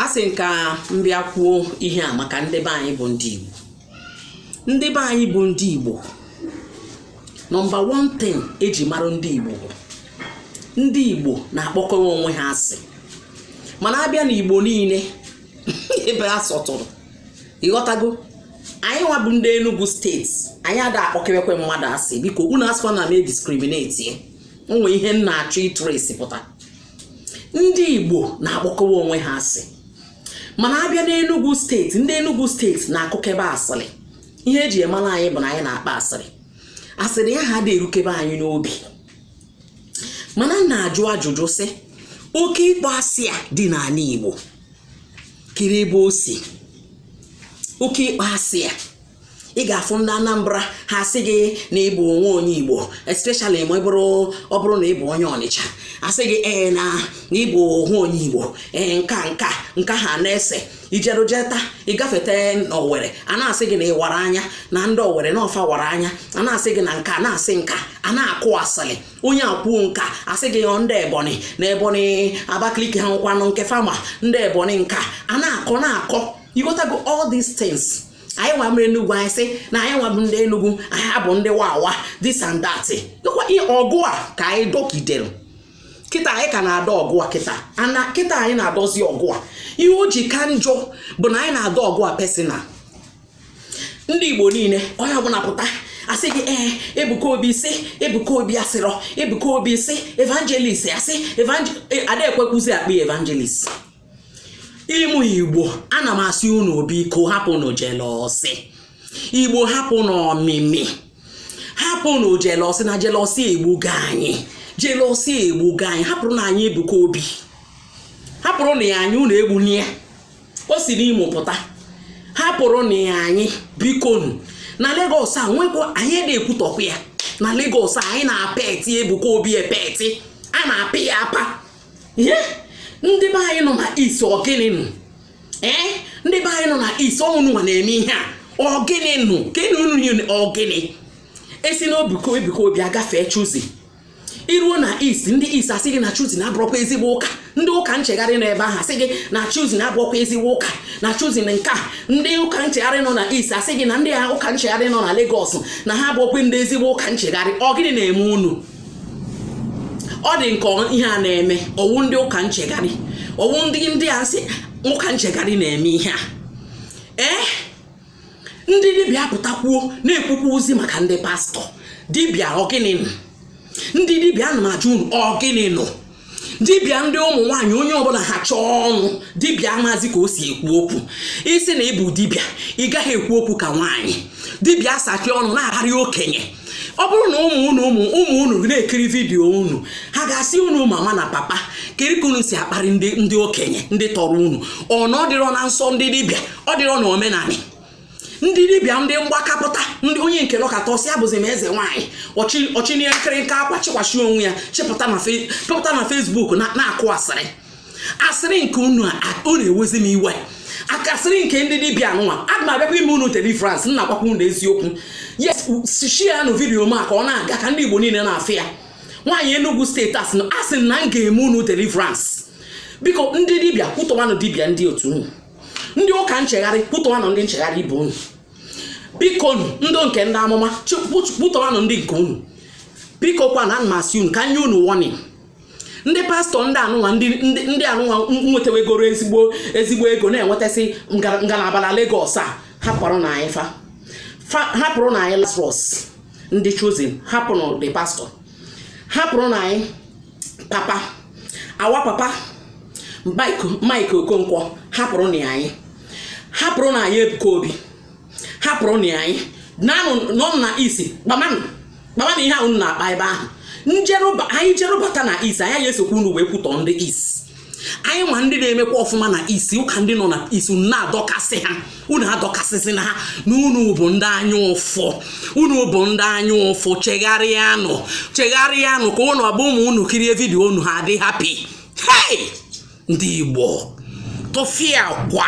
asị m ka m bịa kwuo ihe a maka ndị be anyị bụ ndị Igbo ndị be anyị bụ ndị Igbo number one thing e ji mara ndị Igbo bụ ndị Igbo na-akpọkewe onwe ha asị mana a bịa na Igbo niile ebe a sọtụrụ ị ghọtago anyị nwa bụ ndị Enugu steeti anyị ada akpọkewekwe mmadụ asị biko unu asịkwa na m na-ediskrimineti o nwe ihe m na-achọ itrace pụta ndị Igbo na-akpọkọwa onwe ha asị mana a bịa n'Enugu steeti ndị Enugu steeti na-akụkebe asịrị ihe e ji emara anyị bụ na anyị na-akpa asịrị asịrị ya ha dị erukebe anyị n'obi mana m na-ajụ ajụjụ sị oke ịkpọ asị a dị n'ala Igbo kere ebe o si oke ịkpọ asị a ị ga-afụ ndị Anambra ha asị gị na ị bụ nwa onye Igbo especially ma ọ bụrụ ọ bụrụ na ị bụ onye Ọnịcha asị gị ee na ị bụ nwa onye Igbo ee nka nka nka ha na-ese ijerujeta ị gafeta n'Owere a na-asị gị na ị wara anya na ndị Owere na ọ fa wara anya a na-asị gị na nka na-asị nka a na-akụ asịlị onye a kwuo nka asị gị ọ ndị Ebonyi na Ebonyi Abakaliki ha nkwanụ nke fama ndị Ebonyi nka a na-akọ na-akọ ị ghọtago all these things anyị nwa mere Enugu anyị sị na anyị nwa bụ ndị Enugu anyị bụ ndị wawa this and that ọgụ a ka anyị dọkidere kịta anyị ka na-adọ ọgụ a kịta anyị na-adọzi ọgụ a ihe o ji ka njọ bụ na anyị na-adọ ọgụ a personal ndị Igbo niile onye ọbụla pụta asị gị ee eh, Ebuka Obi sị Ebuka Obi asịrọ Ebuka Obi sị evangelist asị eh, ada ekwekwuzi akpọ evangelist ụmụ Igbo ana m asị unu biko hapụnụ jelọsị Igbo hapụnụ ọmịmị hapụnụ jelọsị na jelọsị egbugo anyị jelọsị egbugo anyị hapụrụnụ anyị Ebuka Obi hapụrụnụ ya anyị unu egbuna ya o si n'Imo pụta hapụrụnụ ya anyị bikonu na Lagos anyị ada ekwutọkwa ya na Lagos anyị na-epeti Ebuka Obi epeti a na-apa ya apa ihe ndị be anyị nọ na East ọ gịnị nụ ee ndị be anyị nọ na East ọ unu nwa na-eme ihe a ọ gịnị nụ gịnị unu niile ọ gịnị e si na Ebuka Obi agafee Chosen i ruo na East ndị East asị gị na Chosen abụrọkwa ezigbo ụka ndị ụka nchegharị nọ ebe ahụ asị gị na Chosen abụrọkwa ezigbo ụka na Chosen na nke a ndị ụka nchegharị nọ na East asị gị na ndị ụka nchegharị nọ na Lagos na ha abụrọkwa ndị ezigbo ụka nchegharị ọ gịnị na-eme unu ọ dị nke ihe a na-eme ọ wụ ndị ụka nchegharị ọ wụ ndị ndị a sị ụka nchegharị na-eme ihe a ee ndị dibịa pụtakwuo na-ekwukwazi maka ndị pastọ dibịa ọ gịnị nụ ndị dibịa ana m ajụ unu ọ gịnị nụ dibịa ndị ụmụ nwaanyị onye ọbụla ha chọọ ọnụ dibịa amazi ka o si ekwu okwu ị sị na ị bụ dibịa ị gaghị ekwu okwu ka nwaanyị dibịa asachie ọnụ na-akparị okenye ọ bụrụ na ụmụ unu ụmụ ụmụ unu na-ekiri vidiyo unu ha ga-asị unu mama na papa kiri ka unu si akparị ndị ndị okenye ndị tọrọ unu ọ na ọ dịrọ na nsọ ndị dibịa ọ dịrọ na omenanị ndị dibịa ndị mgbakapụta ndị onye nke nọkata ọ sị abụzi m eze nwaanyị ọ chịnye nkịrịnka akwa chịkwasị onwe ya chịpụta na Facebook na-akụ asịrị asịrị nke unu ọ na-ewezi m iwe ka asịrị nke ndị dibịa nwa aga m abịakwa ime unu deliverance m na-agwakwa unu eziokwu yes share nụ vidiyo m a ka ọ na-aga ka ndị igbo niile na-afụ ya nwaanyị Enugu steeti asị na m ga-eme unu deliverance biko ndị dibịa kwutọwanụ dibịa ndị otu unu ndị ụka nchegharị kwutọwanụ ndị nchegharị ibe unu biko unu ndị nke ndị amụma kwutọwanụ ndị nke unu biko kwa na m sị unu ka nye unu warning ndị pastọ ndị anụnwa ndị anụnwa nwetawegoro ezigbo ezigbo ego na-enwetasị ngalaba na Lagos a hapụrụnụ anyị fa hapụrụnụ anyị Lazarus ndị Chosen hapụrụ the pastọ hapụrụnụ anyị papa our papa Mike Okonkwo hapụrụnụ anyị hapụrụnụ anyị Ebuka Obi hapụrụnụ anyị nọnụ na East kpamanụ kpamanụ ihe ahụ unu na-akpa ebe ahụ anyị jerụbata na East anyị esokwa unu wee kwutọ ndị East anyị nwa ndị na-emekwa ọfụma na East ụka ndị nọ na East unu na-adọkasị ha unu adọkasịsịna ha na unu bụ ndị anya ụfụ unu bụ ndị anya ụfụ chegharịanụ chegharịanụ ka unu ọ ga-abụ ụmụ unu kirie vidio unu ha adị happy hei ndị Igbo tụfịakwa